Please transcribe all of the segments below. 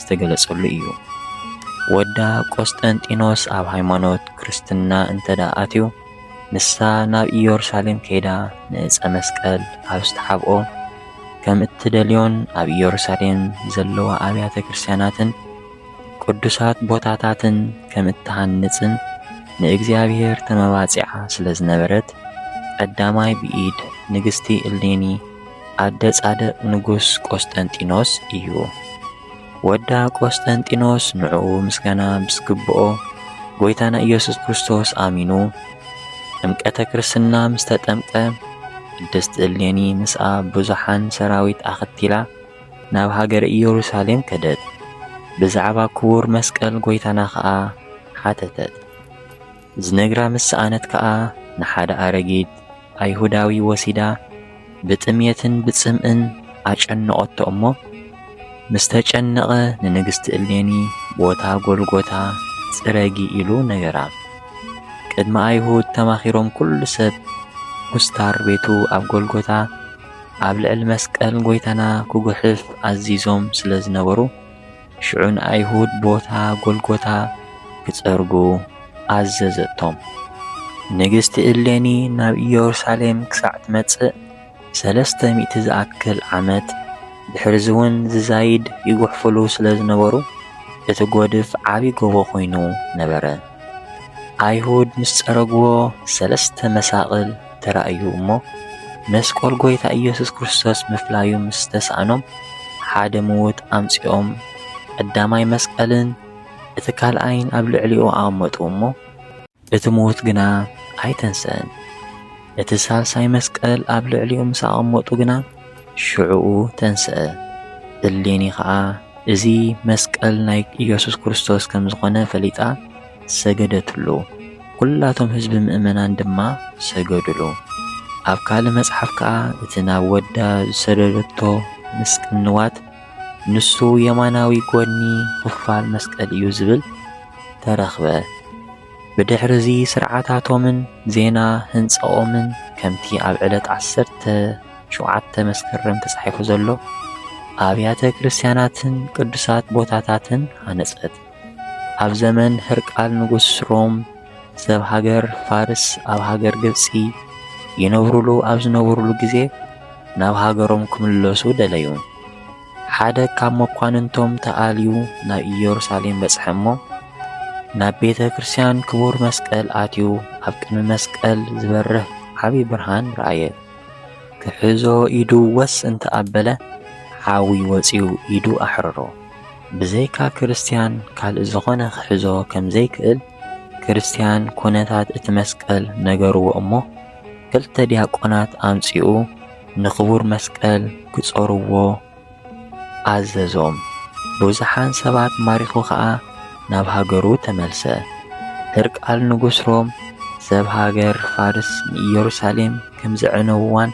ዝተገለጸሉ እዩ። ወዳ ቆስጠንጢኖስ ኣብ ሃይማኖት ክርስትና እንተ ደኣ ኣትዩ፣ ንሳ ናብ ኢየሩሳሌም ከይዳ ንዕጸ መስቀል ኣብ ዝተሓብኦ ከም እትደልዮን ኣብ ኢየሩሳሌም ዘለዋ ኣብያተ ክርስቲያናትን ቅዱሳት ቦታታትን ከም እትሃንጽን ንእግዚኣብሔር ተመባጺዓ ስለ ዝነበረት ቀዳማይ ብኢድ ንግስቲ እሌኒ ኣደ ጻድቕ ንጉስ ቆስጠንጢኖስ እዩ። ወዳ ቆስጠንጢኖስ ንዕኡ ምስጋና ምስግብኦ ጎይታና ኢየሱስ ክርስቶስ ኣሚኑ ጥምቀተ ክርስትና ምስ ተጠምቀ ቅድስት እሌኒ ምስኣ ብዙሓን ሰራዊት ኣኸቲላ ናብ ሃገረ ኢየሩሳሌም ከደት። ብዛዕባ ክቡር መስቀል ጎይታና ኸኣ ሓተተት። ዝነግራ ምስ ሰኣነት ከኣ ንሓደ ኣረጊት ኣይሁዳዊ ወሲዳ ብጥምየትን ብጽምእን ኣጨነቐቶ እሞ ምስ ተጨነቐ ንንግስቲ እሌኒ ቦታ ጎልጎታ ጽረጊ ኢሉ ነገራ። ቅድሚ ኣይሁድ ተማኺሮም ኩሉ ሰብ ኩስታር ቤቱ ኣብ ጎልጎታ ኣብ ልዕሊ መስቀል ጎይታና ክጉሕፍ ኣዚዞም ስለ ዝነበሩ ሽዑ ንኣይሁድ ቦታ ጎልጎታ ኪጸርጉ ኣዘዘቶም። ንግስቲ እሌኒ ናብ ኢየሩሳሌም ክሳዕ ትመጽእ ሰለስተ ሚእቲ ዝኣክል ዓመት፣ ድሕርዚውን ዝዛይድ ይጉሕፍሉ ስለ ዝነበሩ፣ እቲ ጎድፍ ዓቢ ጎቦ ኮይኑ ነበረ። ኣይሁድ ምስ ጸረግዎ ሰለስተ መሳቕል፣ ተራእዩ እሞ መስቆል ጎይታ ኢየሱስ ክርስቶስ ምፍላዩ ምስ ተሳእኖም ሓደ ምውት ኣምጺኦም ቀዳማይ መስቀልን እቲ ካልኣይን ኣብ ልዕሊኡ ኣቐመጡ እሞ እቲ ምውት ግና ኣይተንሰእን። እቲ ሳልሳይ መስቀል ኣብ ልዕሊኡ ምስ ኣቐመጡ ግና ሽዕኡ ተንስአ። እሌኒ ኸኣ እዚ መስቀል ናይ ኢየሱስ ክርስቶስ ከም ዝኾነ ፈሊጣ ሰገደትሉ፣ ኵላቶም ህዝቢ ምእመናን ድማ ሰገዱሉ። ኣብ ካልእ መጽሓፍ ከኣ እቲ ናብ ወዳ ዝሰደደቶ ምስ ቅንዋት ንሱ የማናዊ ጐድኒ ኽፋል መስቀል እዩ ዝብል ተረኽበ። ብድሕርዚ ስርዓታቶምን ዜና ህንጻኦምን ከምቲ ኣብ ዕለት ዓሰርተ ሸውዓተ መስከረም ተጻሒፉ ዘሎ ኣብያተ ክርስትያናትን ቅዱሳት ቦታታትን ሃነጸት። ኣብ ዘመን ህርቃል ንጉስ ሮም ሰብ ሃገር ፋርስ ኣብ ሃገር ግብጺ ይነብሩሉ ኣብ ዝነብሩሉ ግዜ ናብ ሃገሮም ክምለሱ ደለዩ። ሓደ ካብ መኳንንቶም ተኣልዩ ናብ ኢየሩሳሌም በጽሐ እሞ ናብ ቤተ ክርስቲያን ክቡር መስቀል ኣትዩ ኣብ ቅድሚ መስቀል ዝበርህ ዓብዪ ብርሃን ረኣየ። ክሕዞ ኢዱ ወስ እንተ ኣበለ ሓዊ ወጺኡ ኢዱ ኣሕረሮ። ብዘይካ ክርስትያን ካልእ ዝኾነ ክሕዞ ከም ዘይክእል ክርስትያን ኩነታት እቲ መስቀል ነገርዎ እሞ ክልተ ዲያቆናት ኣምጺኡ ንክቡር መስቀል ክጾርዎ ኣዘዞም ቡዝሓን ሰባት ማሪኹ ከኣ ናብ ሃገሩ ተመልሰ ህርቃል ንጉስ ሮም ሰብ ሃገር ፋርስ ንኢየሩሳሌም ከም ዘዕነውዋን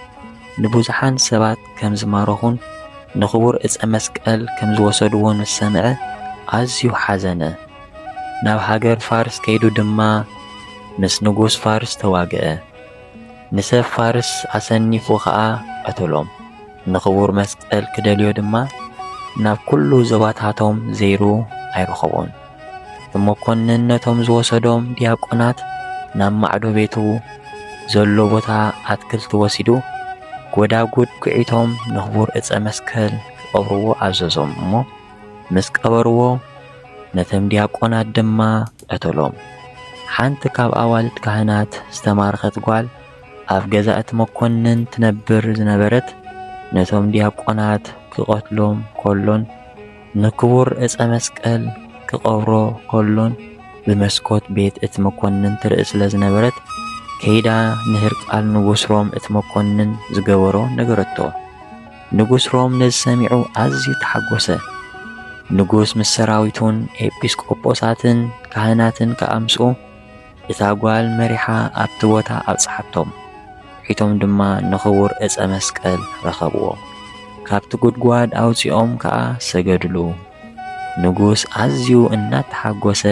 ንቡዝሓን ሰባት ከም ዝማረኹን ንኽቡር ዕጸ መስቀል ከም ዝወሰድዎን ምስ ሰምዐ ኣዝዩ ሓዘነ። ናብ ሃገር ፋርስ ከይዱ ድማ ምስ ንጉስ ፋርስ ተዋግኣ። ንሰብ ፋርስ ኣሰኒፉ ኸኣ ቐተሎም። ንኽቡር መስቀል ክደልዮ ድማ ናብ ኵሉ ዞባታቶም ዘይሩ ኣይረኸቦን። መኰንን ነቶም ዝወሰዶም ዲያቆናት ናብ ማዕዶ ቤቱ ዘሎ ቦታ ኣትክልቲ ወሲዱ ጐዳጉድ ኲዒቶም ንኽቡር ዕፀ መስቀል ክቐብርዎ ኣዘዞም እሞ ምስ ቀበርዎ ነቶም ዲያቆናት ድማ ቀተሎም። ሓንቲ ካብ ኣዋልድ ካህናት ዝተማረኸት ጓል ኣብ ገዛ እቲ መኰንን ትነብር ዝነበረት ነቶም ዲያቆናት ክቐትሎም ከሎን ንክቡር ዕጸ መስቀል ክቐብሮ ከሎን ብመስኮት ቤት እቲ መኮንን ትርኢ ስለ ዝነበረት ከይዳ ንህርቃል ንጉስ ሮም እቲ መኮንን ዝገበሮ ነገረቶ። ንጉስ ሮም ነዚ ሰሚዑ ኣዝዩ ተሓጎሰ። ንጉስ ምስ ሰራዊቱን ኤጲስቆጶሳትን ካህናትን ከኣ ምስኡ። እታ ጓል መሪሓ ኣብቲ ቦታ ኣብጽሓቶም። ሒቶም ድማ ንኽቡር ዕጸ መስቀል ረኸብዎ። ካብቲ ጉድጓድ ኣውጺኦም ከኣ ሰገድሉ። ንጉስ ኣዝዩ እናተሓጎሰ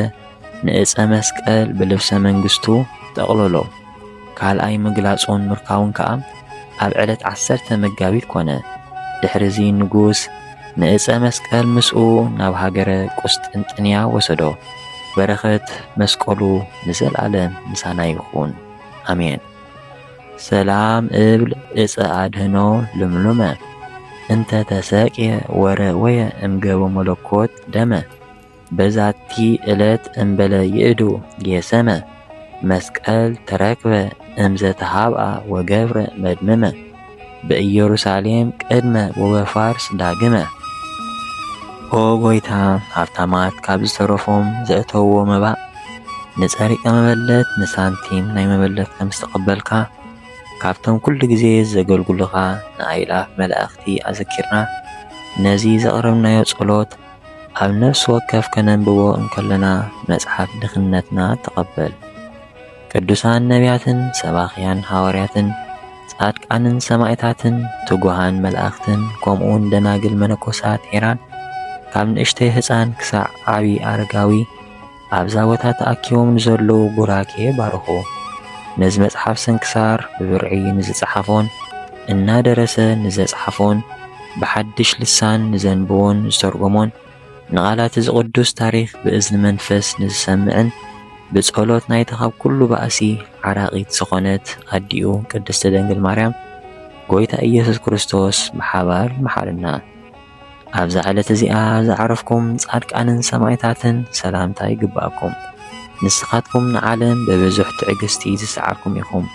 ንዕጸ መስቀል ብልብሰ መንግስቱ ጠቕለሎ። ካልኣይ ምግላጹን ምርካቡን ከኣ፣ ኣብ ዕለት ዓሰርተ መጋቢት ኮነ። ድሕርዚ ንጉስ ንእፀ መስቀል ምስኡ ናብ ሃገረ ቁስጥንጥንያ ወሰዶ። በረኸት መስቀሉ ንዘልኣለም ምሳና ይኹን ኣሜን። ሰላም እብል እፀ ኣድህኖ ልምሉመ እንተ ተሰቅየ ወረወየ እምገቦ መለኮት ደመ በዛቲ እለት እምበለ ይእዱ ጌሰመ መስቀል ተረክበ እምዘ ተሃብኣ ወገብረ መድምመ በኢየሩሳሌም ቅድመ ወበፋርስ ዳግመ። ኦ ጐይታ ሃብታማት ካብ ዝተረፎም ዘእተውዎ መባእ ንጸሪቀ መበለት ንሳንቲም ናይ መበለት ከም ዝተቐበልካ ካብቶም ኩሉ ግዜ ዘገልግሉኻ ንኣእላፍ መላእኽቲ ኣዘኪርና ነዚ ዘቕረብናዮ ጸሎት ኣብ ነፍሲ ወከፍ ከነንብቦ እንከሎና መጽሓፍ ድኽነትና ተቐበል ቅዱሳን ነቢያትን ሰባኽያን ሃዋርያትን ጻድቃንን ሰማእታትን ትጉሃን መላእኽትን ከምኡውን ደናግል መነኮሳት ሄራን ካብ ንእሽተይ ህጻን ክሳዕ ዓቢ ኣረጋዊ ኣብዛ ቦታ ተኣኪቦም ንዘለዉ ቡራኬ ባርኹ። ነዚ መጽሓፍ ስንክሳር ብብርዒ ንዝጸሓፎን እናደረሰ ንዘጽሓፎን ብሓድሽ ልሳን ንዘንብቦን ዝተርጎሞን ንቓላት'ዚ ቅዱስ ታሪኽ ብእዝኒ መንፈስ ንዝሰምዕን ብጸሎት ናይታ ካብ ኩሉ ባእሲ ዓራቒት ዝኾነት ኣዲኡ ቅድስቲ ድንግል ማርያም ጎይታ ኢየሱስ ክርስቶስ ብሓባር ይምሓረና። ኣብዛ ዕለት እዚኣ ዝዓረፍኩም ጻድቃንን ሰማእታትን ሰላምታ ይግብኣኩም። ንስኻትኩም ንዓለም ብብዙሕ ትዕግስቲ ዝሰዓርኩም ኢኹም፣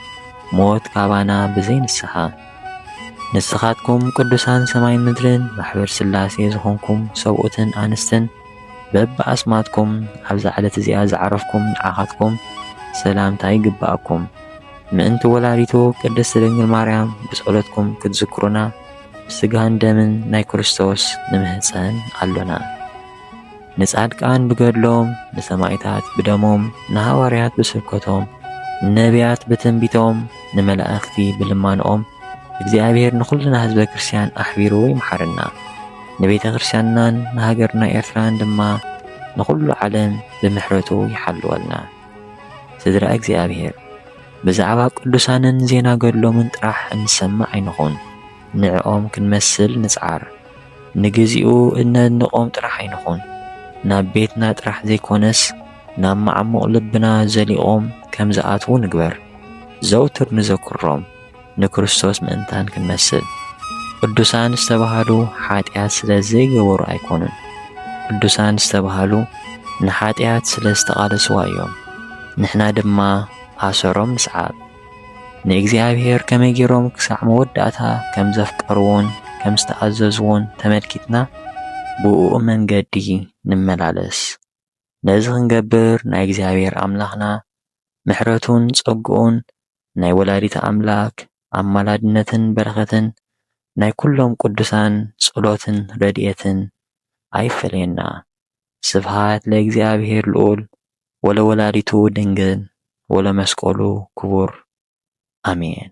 ሞት ካባና ብዘይ ንስሓ። ንስኻትኩም ቅዱሳን ሰማይን ምድርን ማሕበር ሥላሴ ዝኾንኩም ሰብኡትን ኣንስትን በብኣስማትኩም ኣብዛ ዕለት እዚኣ ዝዓረፍኩም ንዓኻትኩም ሰላምታ ይግብኣኩም። ምእንቲ ወላዲቱ ቅድስት ድንግል ማርያም ብጸሎትኩም ክትዝክሩና ብስጋን ደምን ናይ ክርስቶስ ንምህጸን ኣሎና። ንጻድቃን ብገድሎም፣ ንሰማይታት ብደሞም፣ ንሃዋርያት ብስብከቶም፣ ንነብያት ብትንቢቶም፣ ንመላእኽቲ ብልማኖኦም እግዚኣብሔር ንኹልና ህዝበ ክርስቲያን ኣሕቢሩ ይምሓረና። ንቤተ ክርስቲያንናን ንሃገርና ኤርትራን ድማ ንኹሉ ዓለም ብምሕረቱ ይሓልወልና። ስድራ እግዚኣብሔር! ብዛዕባ ቅዱሳንን ዜና ገድሎምን ጥራሕ እንሰምዕ ኣይንኹን። ንዕኦም ክንመስል ንጽዓር። ንግዚኡ እነድንቖም ጥራሕ ኣይንኹን። ናብ ቤትና ጥራሕ ዘይኮነስ ናብ መዓሙቕ ልብና ዘሊቖም ከም ዝኣትዉ ንግበር። ዘውትር ንዘክሮም። ንክርስቶስ ምእንታን ክንመስል ቅዱሳን ዝተባህሉ ሓጢኣት ስለ ዘይገበሩ ኣይኮኑን። ቅዱሳን ዝተባህሉ ንሓጢኣት ስለ ዝተቓለስዋ እዮም። ንሕና ድማ ኣሰሮም ንስዓብ። ንእግዚኣብሔር ከመይ ገይሮም ክሳዕ መወዳእታ ከም ዘፍቀርዎን ከም ዝተኣዘዝዎን ተመልኪትና ብእኡ መንገዲ ንመላለስ። ነዚ ክንገብር ናይ እግዚኣብሔር ኣምላኽና ምሕረቱን ጸግኡን ናይ ወላዲተ ኣምላክ ኣማላድነትን በረከትን ናይ ኩሎም ቅዱሳን ጸሎትን ረድኤትን ኣይፈለየና ስብሃት ለእግዚኣብሔር ልዑል ወለወላዲቱ ድንግል ወለመስቀሉ ክቡር ኣሜን።